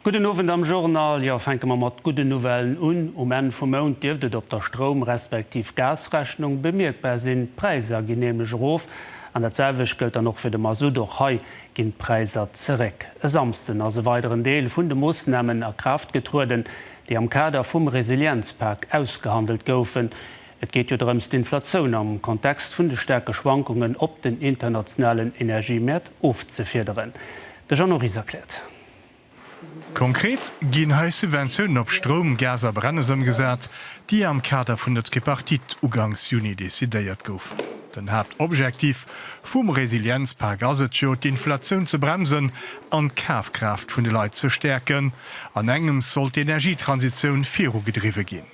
Gudden Owend am Journal. Jo, fänke mer mat gudden Nouvellen un. Um Enn vum Mount dierft et op der Stroum respektiv Gasrechnung bemierkbar sinn. D'Präisser ginn nämlech erof. An dat selwecht gëllt dann och fir de Masutt. Och hei ginn d'Präisser zeréck. E Samsden ass e weideren Deel vun de Moossnamen a Kraaft getrueden, déi am Kader vum Resilienzpak ausgehandelt goufen. Et geet jo drëms, d'Inflatioun am Kontext vun de staarke Schwankungen op den internationalen Energiemäert ofzefiederen. De Jeannot Ries erkläert. Konkret ginn hei Subventiounen op Stroum, Gas a Brennes ëmgesat, déi am Kader vun der Tripartite uganks Juni decidéiert goufen. Den Haaptobjektiv vum Resilienzpak ass et jo, d'Inflatioun ze bremsen an d'Kafkraaft vun de Leit ze stäerken. An engems soll d'Energietransitioun virugedriwwe ginn.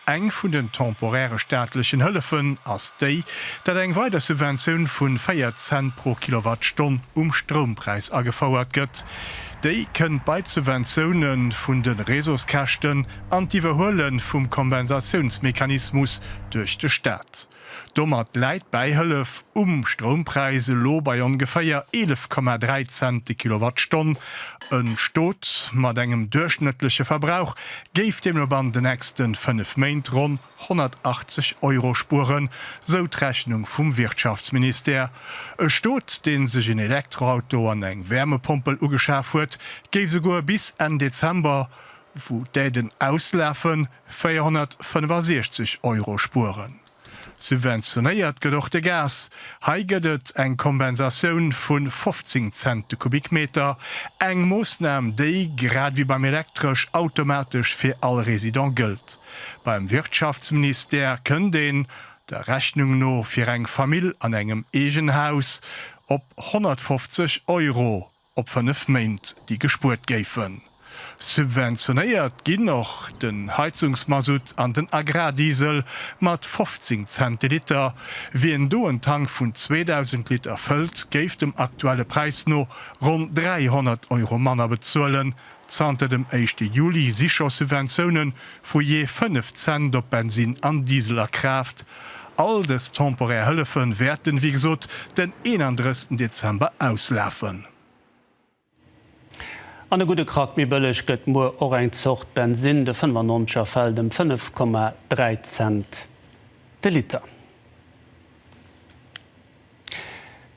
Eng vun den temporäre staatlechen Hëllefen ass déi, datt eng weider Subventioun vu 4 Cent pro Kilowattstonn um Stroumpräis agefouert gëtt. Déi kënnt bei d'Subventioune vun de Réseauskäschten an d'Iwwerhuele vum Kompensatiounsmechanismus duerch de Staat. Domat läit d'Bäihëllef um Stroumpräis elo bei ongeféier 11,3 Cent déi Kilowattstonn. E Stot mat engem duerchschnëttleche Verbrauch géif deemno bannent den nächste 5 Méint ronn 180 Euro spueren, sou d'Rechnung vum Wirtschaftsministère. E Stot, dee sech en Elektroauto an eng Wäermepompel ugeschaf huet, géif souguer bis Enn Dezember, wou d'Aiden auslafen, 465 Euro spueren. Subventionéiert gëtt och de Gas. Hei gëtt et eng Kompensatioun vu 15 Cent de Kubikmeter, eng Moossnam, déi, grad wéi beim Elektresch, automatesch fir all Resident gëllt. Beim Wirtschaftsministère kënnt een, der Rechnung no, fir eng Famill an engem Eegenhaus op 150 Euro. op 5 Méint, déi gespuert géifen. Subventionéiert ginn och den Heizungsmasutt an den Agrardiesel mat 15 Cent de Liter. Wien do en Tank vun 2.000 Liter fëllt, géif dem aktuelle Präis no ronn 300 Euro manner bezuelen, Zanter dem éischte Juli si scho Subventiounen vu jee 5 Cent op Bensinn an Diesel a Kraaft. All dës temporär Hëllefe wäerten, wéi gesot, den 31 Dezember auslafen. An e gudde Krack méi bëlleg gëtt muer och eng Zort Bensinn, de 95 er fält ëm 5,3 Cent de Liter.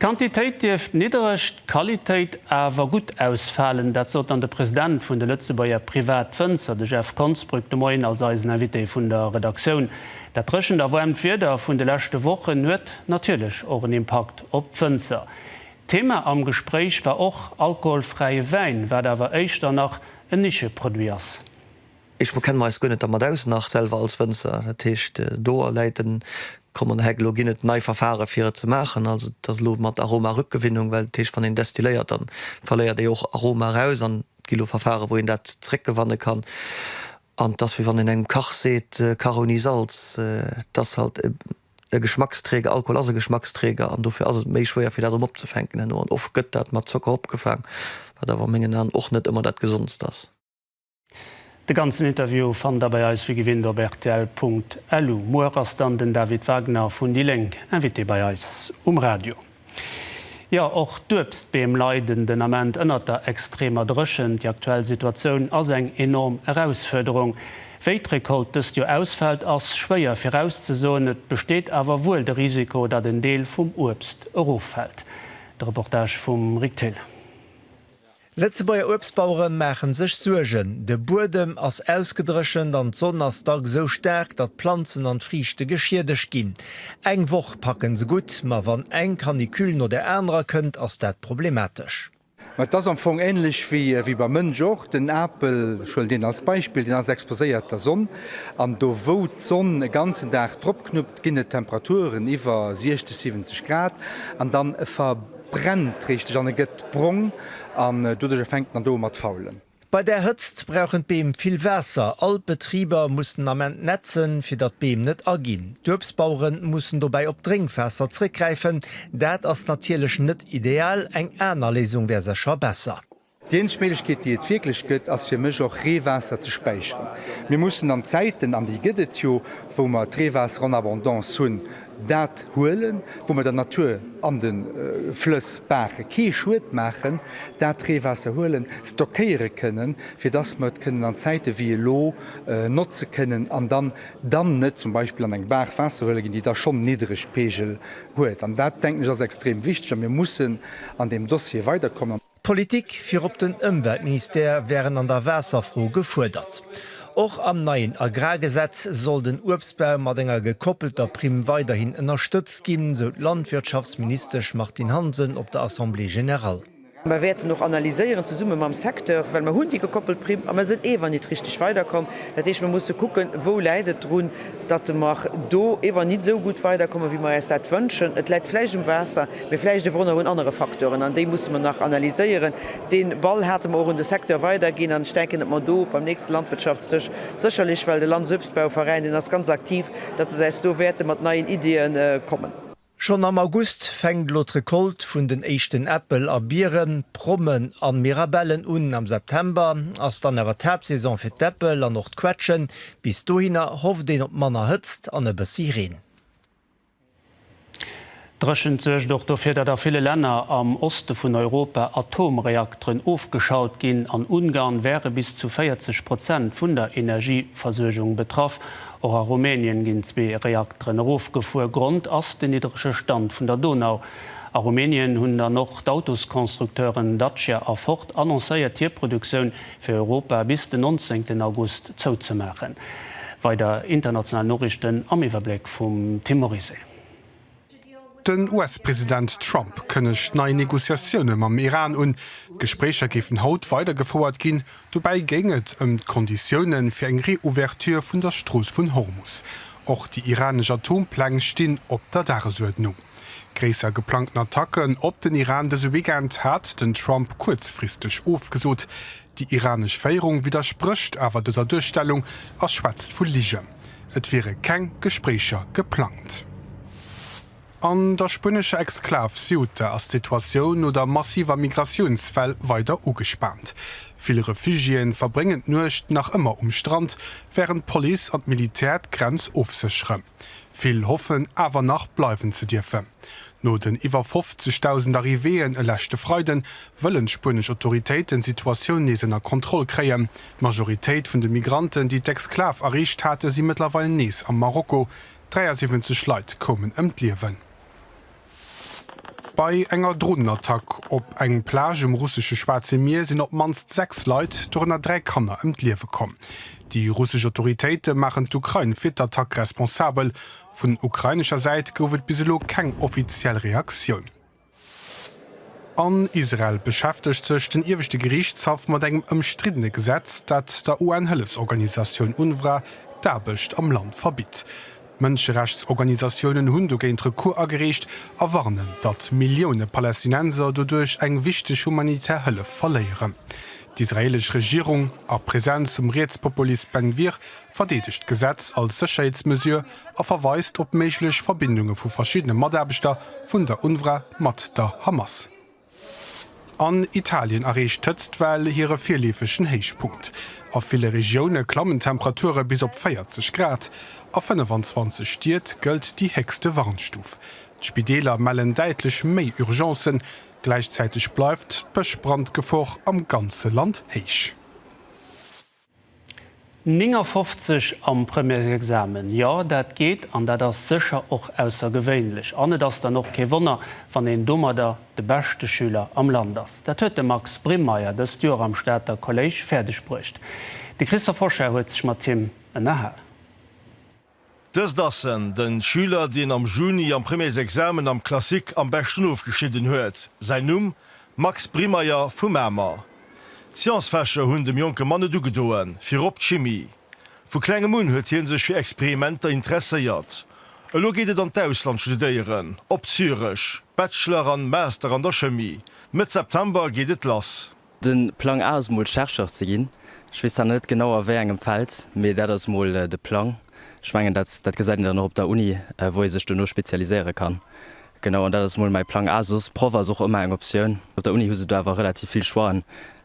D'Quantitéit dierft niddereg, d'Qualitéit awer gutt ausfalen. Dat sot dann de President vun de Lëtzebuerger Privatwënzer, de Jeff Konsbrück, de Moien als eisen Invité vun der Redaktioun. Dat dréchent a waarmt Wieder vun de leschte Wochen huet natierlech och en Impakt op d'Wënzer. Thema am Gespréich war och alkoholfräie Wäin, wat awer éischter nach en Nischeproduit ass. Eech mer kennen mer eis guer net dermat aus nach selwer als Wënzer. Dat heescht do läit den Krom an der Heck. Elo ginn et nei Verfahre fir et ze maachen. Also et ass elo mat Aromarückgewinnung, well dat heescht wann een destilléiert dann verléiert ee och Aroma eraus an et gi elo Verfahre wou een dat zréckgewanne kann. An et ass wéi wann een engem Kach seet, Kach ouni Salz. Et ass halt e Geschmacksträger, Alkohol ass e Geschmacksträger an dofir ass et méi schwéier fir dat erëm opzefänken herno. An oft gëtt dat mat Zocker opgefaang, wat awer a mengen An och net ëmmer dat gesondst ass. De ganzen Interview fannt der bei eis wéi gewinnt op rtl.lu. Muer ass dann den David Wagner vun déi Lénk Invité bei eis um Radio. Jo, och d'Uebstbeem leiden den Ament ënnert der extremer Dréchent. Déi aktuell Situatioun ass eng enorm Erausfuerderung. Wéi d'Recolte dëst Joer ausfält, ass schwéier virauszesoen. Et besteet awer wuel de Risiko, datt en Deel vum Uebst eroffält. De Reportage vum Rick Thill. Lëtzebuerger Uebstbauere maache sech Suergen. De Buedem ass ausgedréchent an d'Sonn ass dacks esou staark, datt d'Planzen an d'Friichte geschiedegt ginn. Eng Woch packe se gutt, ma wann eng Canicule no der anerer kënnt, ass dat problematesch. Mä et ass am Fong änlech wéi beim Mënsch och. Den Apel, ech huelen deen als Beispill, deen ass exposéiert der Sonn. An do wou d'Sonn e ganzen Dag dropknuppt, ginn et Temperaturen iwwer 60, 70 Grad an dann ver. brennt richteg an e gëtt brong an doduerjer fänkt en an do u mat faulen. Bei där Hëtzt brauchen d'Beem vill Waasser. All d'Betriber mussen den Ament nätzen, fir datt d'Beem net aginn. D'Uebstbauere mussen dobäi op d'Drénkwaasser zréckgräifen. Dat ass natierlech net ideal, eng aner Léisung wär sécher besser. Déi eenzeg Méiglechkeet, déi et wierklech gëtt, ass fir mech och Reewaasser ze späicheren. Mir mussen an Zäiten, an déi gëtt et jo, wou mer d'Reewaasser en abondance hunn, dat huelen, wou mer der Natur an de Flëss, Baache kee Schued maachen, dat Reewaasser huelen, stockéiere kënnen, fir dass mer et kënnen an Zäite wéi elo notze kënnen an dann dann net zum Beispill an eng Baach Waasser huele ginn, déi da schonn Niddregpeegel huet. An dat, denken ech, ass extrem wichteg a mir mussen an deem Dossier weiderkommen. D'Politik virop den Ëmweltministère wären an der Waasserfro gefuerdert. Och am neien Agrargesetz soll den Uebstbau mat enger gekoppelter Primm weiderhin ënnerstëtzt ginn, sou d'Landwirtschaftsministesch Martine Hansen op der Assemblée générale. Mer wäerten och analyséieren, zesumme mam Secteur, well mer hunn déi gekoppelt Primm a mer sinn eewer nit richteg weiderkomm. Dat heescht, mer musse kucken, wou läit et drun. datt mer do ewer nit esou gutt weiderkommen, wéi mer äis dat wënschen. Et läit vläicht um Waasser, mee vläicht ewer och nach un anere Facteuren, an déi musse mer nach analyséieren. Dee Ball hate mer och un de Secteur weiderginn, an ech denken, datt mer do beim nächste Landwirtschaftsdësch sécherlech, well de Landsuebstbauveräin, deen ass ganz aktiv, datt se äis do wäerte mat neien Ideeë kommen. Schonn am August fänkt elo d'Recolte vun den éischten Äppel a Bieren, Prommen an Mirabellen un. Am September ass dann awer d'Haaptsaison fir d'Äppel an och d'Quetschen. Bis dohinner hofft een op manner Hëtzt an e bëssi Reen. D'Dréchent suergt och dofir, datt a ville Länner am Oste vun Europa Atomreakteren ofgeschalt ginn. An Ungarn wäre bis zu 40 Prozent vun der Energieversuergung betraff. Och a Rumänien ginn zwee Reakteren erofgefuer. Grond ass den niddrege Stand vun der Donau. A Rumänien hunn dann och d'Autosconstructeuren Dacia a Ford annoncéiert hir Produktioun fir Europa bis den 19 August zouzemaachen. Weider international Noriichten am Iwwerbléck vum Tim Morizet. Den US-President Trump kënnegt nei Negociatioune mam Iran un. D'Gespréicher géifen haut weider gefouert ginn. Dobäi géing et ëm d'Konditioune fir eng Reouverture vun der Strooss vun Hormus. Och déi iranesch Atompläng stinn op der Dagesuerdnung. Gréisser geplangten Attacken op den Iran dëse Weekend hat den Trump kuerzfristeg ofgesot. Déi iranesch Féierung widdersprécht awer dëser Duerstellung a schwätzt vu Ligen, et wiere keng Gespréicher geplangt. An der spuenescher Exklav Ceuta ass d'Situatioun no der massiver Migratiounswell weider ugespaant. Vill Refugiéen verbréngen d'Nuecht nach ëmmer um Strand, wärend d'Police an d'Militär d'Grenz ofsécheren. Vill hoffen awer nach bleiwen ze dierfen. No den iwwer 50.000 Arrivéeën e leschte Freiden, wëllen d'spuenesch Autoritéiten d'Situatioun nees ënner Kontroll kréien. D'Majoritéit vun de Migranten, déi d'Exklav erreecht haten, si mëttlerweil nees am Marokko. 73 Leit koumen ëm d'Liewen. Bei enger Dronenattack op eng Plage um russesche Schwaarze Mier sinn op d'mannst 6 Leit, dorënner 3 Kanner, ëm d'Liewe komm. Déi russesch Autoritéite maachen d'Ukrain fir d'Attack responsabel. Vun ukrainescher Säit gouf et bis elo keng offiziell Reaktioun. An Israel beschäftegt sech den Ieweschte Geriichtshaff mat engem ëmstriddene Gesetz, dat der UN-Hëllefsorganisatioun UNRWA d'Aarbecht am Land verbitt. Mënscherechtsorganisatiounen hunn dogéint Recours agereecht a warnen, datt Millioune Palästinenser doduerch eng wichteg humanitär Hëllef verléieren. D'israeelesch Regierung, a Presenz vum Rietspopulist Ben Gvir, verdeedegt d'Gesetz als Sécherheetsmesure a verweist op méiglech Verbindunge vu verschiddene Mataarbechter vun der UNRWA mat der Hamas. An Italien erreecht d'Hëtztwell hire virleefegen Héichpunkt. A ville Regioune klammen d'Temperature bis op 40 Grad. A 25 Stied gëllt déi héchste Warnstuf. D'Spideeler mellen däitlech méi Urgencen. Gläichzäiteg bleift d'Bëschbrandgefor am ganze Land héich. 59 am Premièresexamen, jo, dat geet an dat ass sécher och aussergewéinlech. An et ass dann och kee Wonner, wann een domadder de beschte Schüler am Land ass. Dat huet de Max Brimmeier dëst Joer am Stater Kolléisch fäerdeg bruecht. De Christophe Hochschier huet sech mat him ënnerhal. Dëst ass en, den Schüler, dien am Juni am Premiersexamen am Classique am beschten ofgeschnidden huet. Säin Numm, Max Brimeyer vu Mamer. D'Sciencefächer hunn dem jonke Mann net ugedoen, virop d'Chimie. Vu klengem un huet hien sech fir Experimenter interesséiert. Elo geet et an d'Ausland studéieren, op Zürech, Bachelor an Master an der Chemie. Mëtt September geet et lass. Den Plang A ass mol Chercheur ze ginn. Ech weess zwar net genau a wéi engem Feld, mee dat ass mol de Plang. Ech mengen dat dat gesäit een dann och op der Uni, wou ee sech dono spezialiséiere kann. Genau, an dat ass mol mäi Plang A. Soss Proff ass och ëmmer eng Optioun. Op der Uni hu se do awer relativ vill Choixen,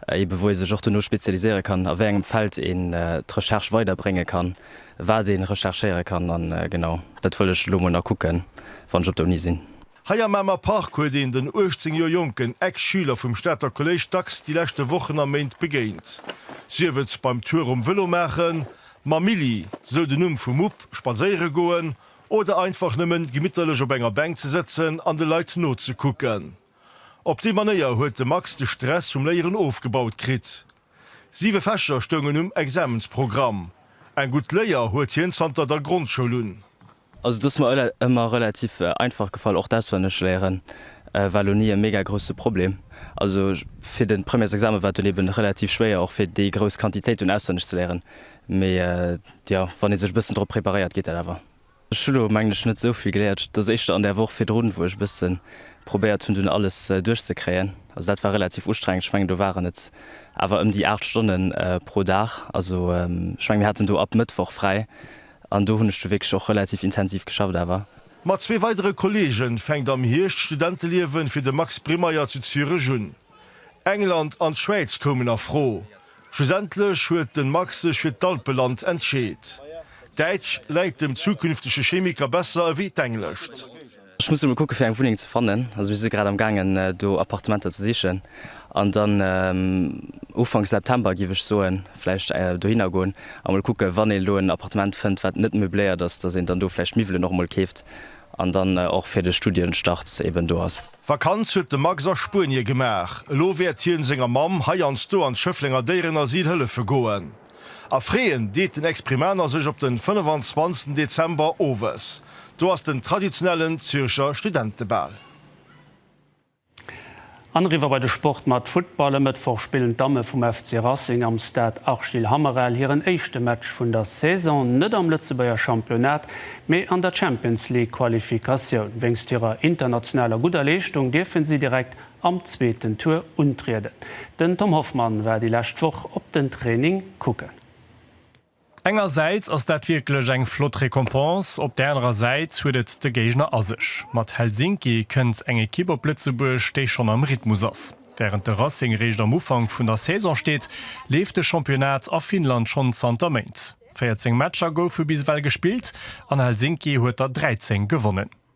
ebe wou ee sech och dono spezialiséiere kann, a wéi engem Feld een d'Recherche weider brénge kann, wat ee recherchéiere kann. An genau dat wëll ech elo mol nach kucken, wann ech op der Uni sinn. Hei am Mamer Park huet een den 18 Joer jonken Ex-Schüler vum Stater Kolléisch dacks déi leschte Wochen a Méint begéint. Sief et beim Tour um Vëlo maachen, mam Milly, sou den Numm vum Mupp, spadséiere goen oder einfach nëmmen gemitterlech op enger Bänk ze sëtzen an de Leit nozekucken. Op déi Manéier huet de Max de Stress vum Léieren ofgebaut kritt. Siwe Fächer stoungen um Examensprogramm. Eng gutt Léier huet hien zanter der Grondschoul un. Also dass mer ëmmer relativ einfach gefall och d'auswenneg léieren war lo ni e mega grousse Problem. Also fir den Premières Examen war et dunn eben relativ schwéier och fir déi grouss Quantitéit dunn auswenneg ze léieren, mee jo wann ee sech e bëssen drop preparéiert geet dat awer. Ech hu lo mengen ech net esou vill geléiert, dass éischter an der Woch virdrun wou ech e bësse probéiert hunn dunn alles duerch ze kréien, also dat war relativ ustrengend, ech mengen do waren et awer ëm déi 8 Stonnen pro Dag, also ech mengen mir haten do ab Mëttwoch fräi An do hunn ech du wierklech och relativ intensiv geschafft awer. Mat zwee weidere Kolleege fänkt am Hierscht d'Studenteliewe fir de Max Bremeier zu Zürech un. England an d'Schwäiz koumen a Fro. Schlussendlech huet de Max sech fir d'Alpeland entscheet. D'Däitsch läit dem zukünftege Chemiker besser ewéi d'Englescht. Ech muss emol kucke fir eng Wunneng ze fannen. Also mir si grad am gaangen do Appartementer ze sichen an dann Ufank September giff ech soen vläicht dohinner goen a mol kucke wann een elo en Appartement fënnt wat net meubléiert ass, dass een dann do vläicht d'Miwwelen och emol keeft an dann och fir de Studienstart eben do ass. Vakanz huet de Max a Spuenie gemaach. Elo wäert hien senger Mamm heiansdo an d'Schëfflenger Déierenasyl hëllefe goen. A freeën deet den Exprimaner sech op den 25 Dezember owes. Do ass den traditionellen Zürcher Studentebal. An eriwwer bei de Sport mat Futtball. E Mëttwoch spillen d'Damme vum FC Racing am Stade Arschil Hammerel hiren éischte Match vun der Saison, net am Lëtzebuerger Championnat, mee an der Champions-League-Qualifikatioun. Wéinst hirer internationaler gudder Leeschtung dierfen si direkt am zweeten Tour untrieden. Den Tom Hoffmann war déi lescht Woch op den Training kucken. Engersäits ass dat wierklech eng flott Récompense, op der anerer Säit huet et de Géigner a sech. Mat Helsinki kënnt eng Ekipp op Lëtzebuerg, déi schonn am Rhythmus ass. Wärend de Racing réischt am Ufank vun der Saison steet, leeft de Championnat a Finnland schonn zanter Méint. 14 Matcher goufe bis ewell gespillt an Helsinki huet der 13 gewonnen.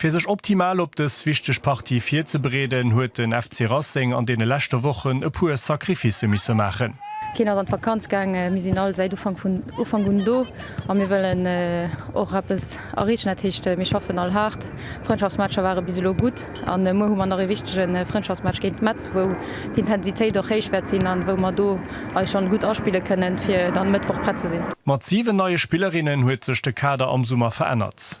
Fir sech optimal op dës wichteg Partie virzebereeden, huet den FC Racing an deene leschte Wochen e puer Sacrificë misse maachen. Keen ass an d'Vakanz gaangen, mir sinn all säit Ufank un do a mir wëllen och eppes erreechen. Dat heescht, mir schaffen all haart. Frëndschaftsmatcher ware bis elo gutt a muer hu mer nach ee wichtege Frëndschaftsmatch géint Metz, wou d'Intensitéit och héich wäert sinn an wou mer do eis schonn gutt aspille kënnen, fir dann e Mëttwoch prett ze sinn. Mat 7 neie Spillerinnen huet sech de Kader am Summer verännert.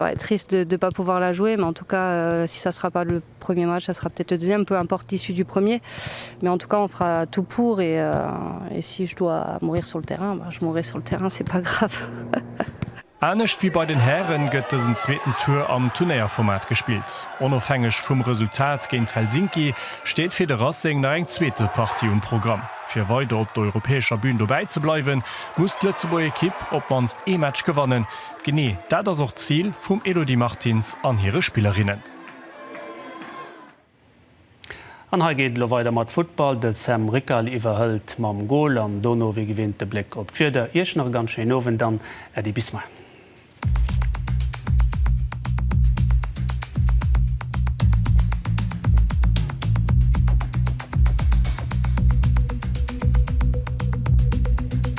Ouais, triste de de pas pouvoir la jouer, mais en tout cas si ça sera pas le premier match, ça sera peut-être le deuxième, peu importe l'issue du premier, mais en tout cas on fera tout pour et et si je dois mourir sur le terrain, bah je mourrai sur le terrain, c'est pas grave. Anescht wéi bei den Hären gëtt dësen zweeten Tour am Turnéierformat gespillt. Onofhängeg vum Resultat géint Helsinki steet fir de Racing nach eng zweete Partie um Programm. Fir weider op der europäescher Bün dobäi ze bleiwen, muss d'Lëtzebuerg Ekipp op d'mannst ee Match gewannen, Genee dat ass och d'Zil vum Elodie Martins an hire Spillerinnen. An hei geet et elo weider mat Futtball. De Sam Rickal iwwerhëlt mam Gol an dono wéi gewinnt de Bléck op d'Wieder. Iech nach e ganz schéinen Owend an Äddi bis mei.